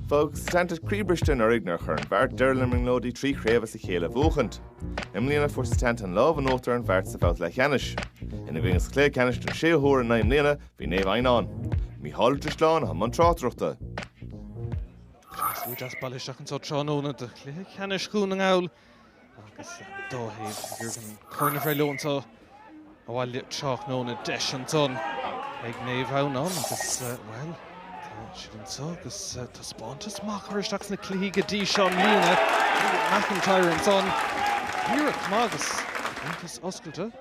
Fágadh Setanta croíbhriste anuraidh nuair a chuir an Bheart deireadh lena mbrionglóidí trí chraobh as a chéile a bhuachaint. I mbliana fuair Setanta an lámh in uachtar ar an Bheart sa bhabhta leathcheannais. Ina gcoinne sa chluiche ceannais den séú huair in naoi mbliana bhí Naomh Adhamhnáin. Micheál Ó Drisleáin i mbun tráchtaireachta. Tá slua deas bailithe isteach anseo tráthnóna do chluiche ceannais Dhún na nGall Agus an dá thaobh ag iarraidh an corn a bhreith leo anseo abhaile tráthnóna. Deis ansan ag Naomh Adhamhnáin agus, bhuel, tá siad anseo agus taispeántas maith curtha isteach sna cluichí go dtí seo i mbliana. McIntyre ansan, iarracht maith agus cuntas oscailte.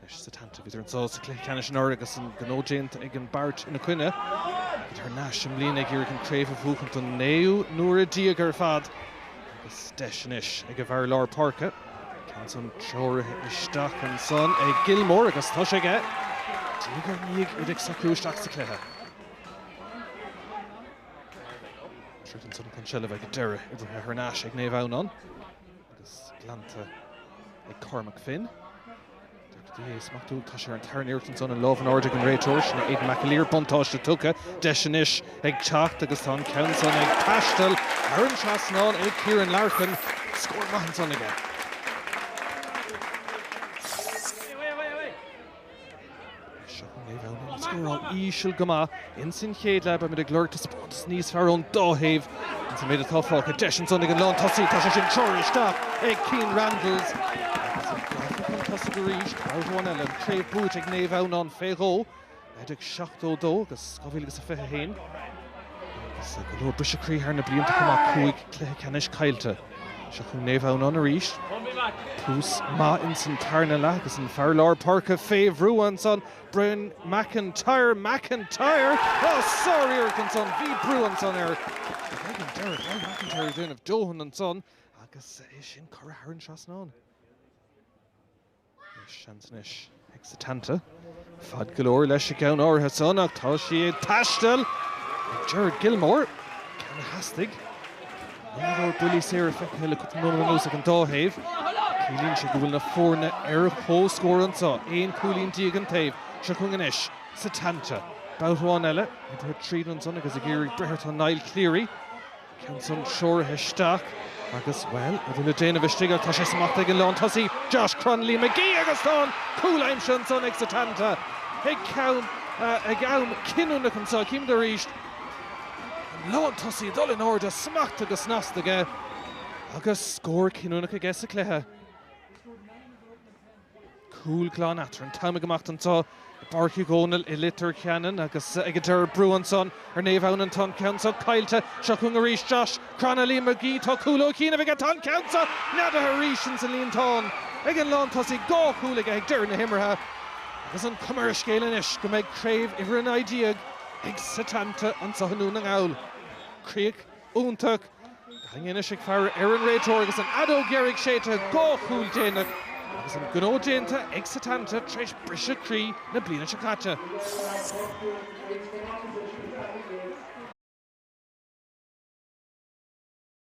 leis Setanta, bhíodar anso sa chluiche ceannais anuraidh agus an gnó déanta ag an mBeart ina gcoinne. Iad thar n-ais i mbliana ag iarraidh an chraobh a bhuachaint don naoú huair déag ar fad agus deis anois ag a bhfear lár páirce. Ceann san treoraithe isteach ansan ag Gilmore agus tá sé aige. Diaidh ar ndiaidh iad ag socrú isteach sa chluiche. Troid ansan chun seilbhe ag an deireadh sliotar thar n-ais ag Naomh Adhamhnáin. agus glanta ag Cormac Finn. Deacair é a smachtú, tá sé ar an tarna hiarracht ansan, an lámh in airde ag an réiteoir, sin é Aidan McAleer, buntáiste tugtha, deis anois ag teacht agus tá an ceann san ag taisteal thar an trasnán ag Kieran Larkin, scór maith ansan aige. Seo an méid ama agus scóráil íseal go maith ins an chéad leath. Beimid ag lorg taispeántas níos fearr ón dá thaobh ins an méid atá fágtha. Deis ansan ag an lán tosaigh. Tá sé sin treoraithe isteach ag Cian Randles agus cúilín chun tosaigh arís. Babhta amháin eile an chraobh buaite ag Naomh Adhamhnáin fé dhó, 1972 agus 2021, agus go leor briseadh croí thar na blianta chomh maith. Cúig cluiche ceannais caillte. Seo chugainn Naomh Adhamhnáin arís. Tús maith insan tarna leath agus an fear lár páirce fé bhrú ansan, Brian McIntyre. McIntyre! Tá sár-iarracht ansan. Bhí brú ansan air. Ach ag an deireadh Brian McIntyre ag déanamh a dhóthain ansan agus é sin curtha thar an trasnán. Beidh seans anois ag Setanta. Fad go leor leis an gceann áirithe san ach tá sí ag taisteal ag Gerard Gilmore. Ceann a theastaigh. Níl go leor buillí saora feicthe le cúpla nóiméad anuas ag an dá thaobh. Ciallaíonn sé go bhfuil na foirne ar comhscór anseo. Aon chúilín déag an taobh. Seo chugainn anois. Setanta. Babhta amháin eile sliotar tríd ansan agus ag iarraidh breith air tá Niall Cleary. Ceann san treoraithe isteach agus, bhuel, obair le déanamh istigh ach tá sé smachtaithe ag an lán tosaigh, Josh Cronolly McGee agus tá an cúl aimsithe ansan ag Setanta, ceann ag am cinniúnach anseo. Címid arís an lán tosaigh ag dul in airde, smachtaithe go snasta aige agus scór cinniúnach aige sa chluiche. Cúl glan eatarthu. An t-am ag imeacht anseo i bPáirc Uí Dhónaill i Leitir Ceanainn agus ag an deireadh brú ansan ar Naomh Adhamhnáin. Tá an ceann seo caillte. Seo chugainn arís Josh Cronin, Liam Magee. cúl ó chianaibh aige. Tá an ceann seo neadaithe arís ins an líontán ag an lántosaí. Dhá chúl aige ag deireadh na himeartha agus an chuma ar an scéal anois go mbeidh craobh uimhir a 19 ag Setanta anseo i nDún na nGall. Críoch. iontach. Gach éinne anois ag faire ar an réiteoir agus an fheadóg dheiridh séidte, dhá chúl déanach agus an gnó déanta ag Setanta tar éis briseadh croí na bliana seo caite.